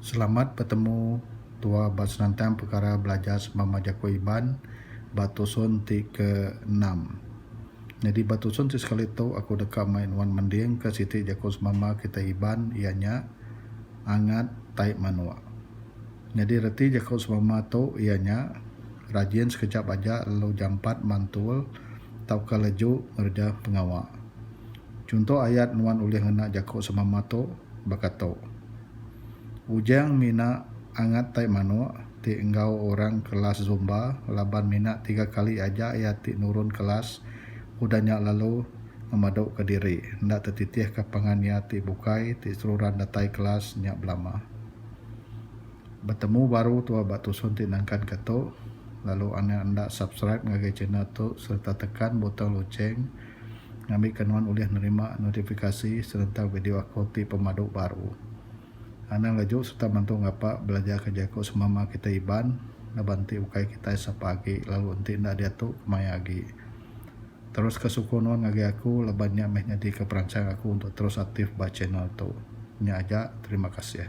Selamat betemu tua ba senentang pekara belajar semama jaku Iban ba tusun ti ke enam. Nyadi ba tusun ti sekali tu aku deka mai nuan mending ke siti jaku semama kitai Iban iya nya angat tai manok. Nyadi reti jaku semama tu iya nya rajin sekejap aja lalu jampat mantul tauka leju ngereja pengawa. Chunto ayat nuan ulih ngena jaku semama tu baka tu, Ujang mina angat tai manuk ti enggau orang kelas zumba laban mina tiga kali aja iya ti nurun kelas udah nya lalu ngemaduka diri enda tetitihka pangan iya ti bukai ti seruran datai kelas nya belama. Betemu baru tua ba tusun ti nangkanka tu lalu anak enda subscribe ngagai channel tu sereta tekan butang lucheng ngambika nuan ulih nerima notifikasi sereta video aku ti pemadu baru. Anang laju sereta mantu ngapa belajarka jaku semama kitai Iban laban enti ukai kitai sapa agi lalu enti enda diatu kemaya agi. Teruska sukung nuan ngagai aku laban nya meh nyadika peransang aku untuk terus aktif ba channel tu. Nya aja, terima kasih.